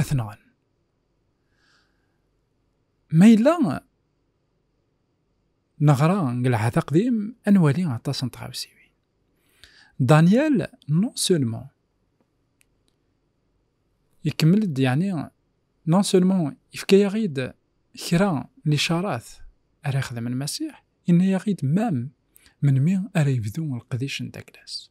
ad t-nɣen. Ma yella neɣra deg lɛahd aqdim ad nwali aṭas n tɣawsiwin. Daniel non seulement ikemmel-d yeɛni non seulement yefka-yaɣ-id kra n licarat ara ixedmen Masiḥ, yenna-yaɣ-id mam melmi ara yebdu leqdic n taklas.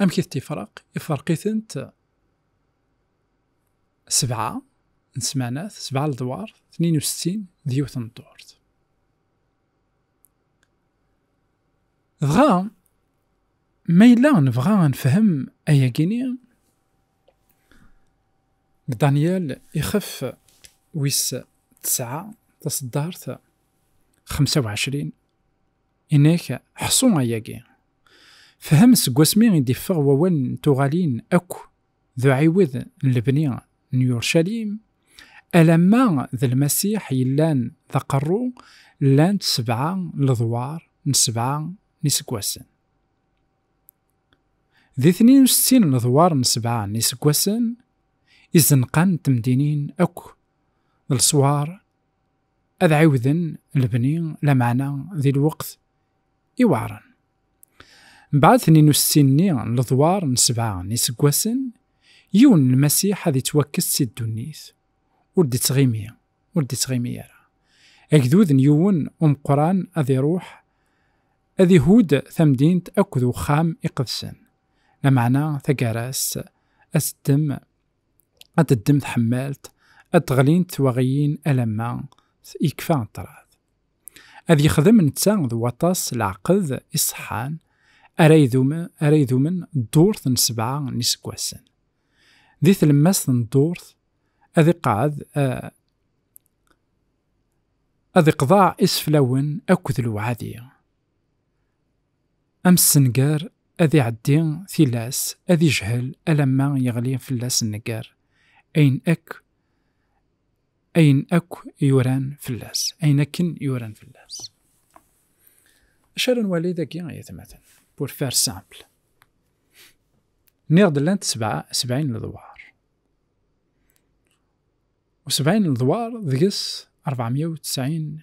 amek i t-ifreq ifreq-itent sebɛa n smanat sebɛa ledwar tnin u settin d yiwet n ddurt dɣa ma yella nebɣa ad nefhem ayagi-ni Daniel ixef wis tesɛa taṣeddart 25 Inek, ḥṣu ayagi. Fhem seg wasmi i d-iffeɣ wawal n tuɣalin akk d uɛiwed n lebni n Yurcalim, alamma d Lmasiḥ yellan d aqerru, llant sebɛa leḍwar n sebɛa n iseggasen. Di tnin u settin leḍwar n sebɛa n iseggasen, izenqan n temdinin akk d leṣwar ad ɛiwden lebni lameɛna di lweqt iweɛren. Mbeɛd tnin ussin-nni n leḍwar n sebɛa n iseggasen, yiwen n Lmasiḥ ad ittwakkes si ddunit, ur d-ittɣimi, ur d-ittɣimi ara. Agdud n yiwen umeqqran ad iruḥ ad ihudd tamdint akked uxxam iqedsen, lameɛna taggara-s ad teddem, ad teddem tḥemmalt, ad d-ɣlint twaɣiyin alamma yekfa ṭṭrad. Ad yexdem netta d waṭas leɛqed iṣeḥḥan ara idumen, ara idumen ddurt n sebɛa n yiseggasen. Di tlemmast n ddurt, ad iqeɛɛed ad iqḍeɛ iseflawen akked lewɛadi. Am ssengar ad iɛeddi tilas, ad ijhel alamma yeɣli fell-as nnger, ayen akk ayen akk yuran fell-as, ayen akken yuran fell-as. Acu ara nwali dagi ay atmaten? Pour faire simple. Nniɣ-d llant sebɛa, sebɛin ledwar. U sebɛin ledwar deg-s 490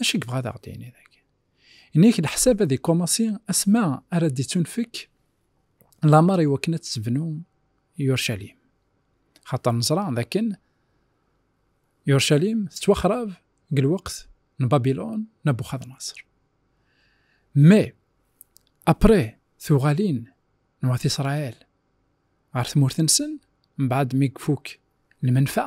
Acu i yebɣa ad aɣ-d-yini dagi? Ini-ak leḥsab ad ikumaṣi asma ara d-ittunfek lamer i wakken ad tessebnu Yurcalim. Xaṭer neẓra d akken Yurcalim tettwaxrab deg lweqt n Babilon n Abuxadnaṣer. Mi apre tuɣalin n wat Isṛail ɣer tmurt-nsen, mbeɛd mi ifuk lmenfa,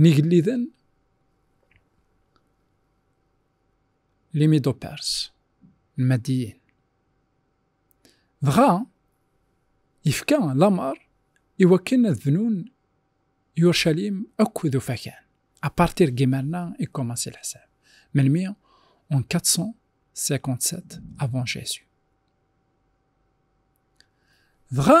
n igelliden limidopars n madiyin dɣa yefka lamar i wakken ad bnun yurcalim akk d ufakan apartir n yimerna i commencé lḥsab melmi en 457 avant Jésus dɣa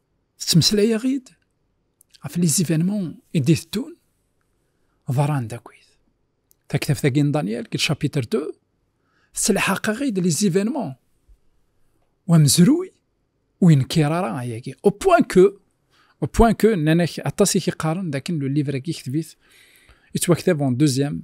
tettmeslay-aɣ-id ɣef les événements i d-iteddun ḍran d akit. Taktabt-agi n Daniel, deg chapitre 2, tettelḥaq-aɣ-id les événements u amezruy ur yenkir ara ayagi. Au point que, au point que, nnan-ak aṭas i k-iqqaren dakken le livre-agi ketvit, yettwaktab en deuxième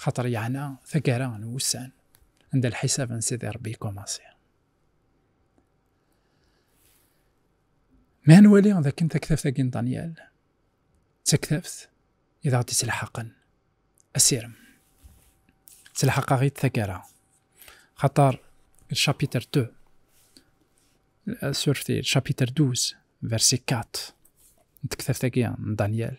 Xaṭer yeɛna taggara n wussan anda lḥisab n Sidi Ṛebbi yekkumaṣi. Mi ad nwali d akken taktabt-agi n Danyal d taktabt i d aɣ-d-ittelḥaqen asirem, ttelḥaq-aɣ-id taggara, xaṭer lcapitr deux, surti lcapitr douze, verset quatre n tektabt-agi n Danyal,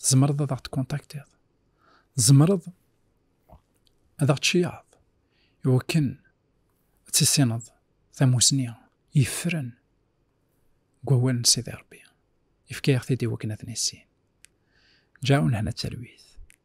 tzemreḍ ad aɣ-tkontaktiḍ tzemreḍ ad aɣ-tceyyaḍ iwakken ad tissineḍ tamusni yeffren deg wawal n Sidi Rebbi yefka-yaɣ-t-id iwakken ad t-nissin ǧaɛun hna talwit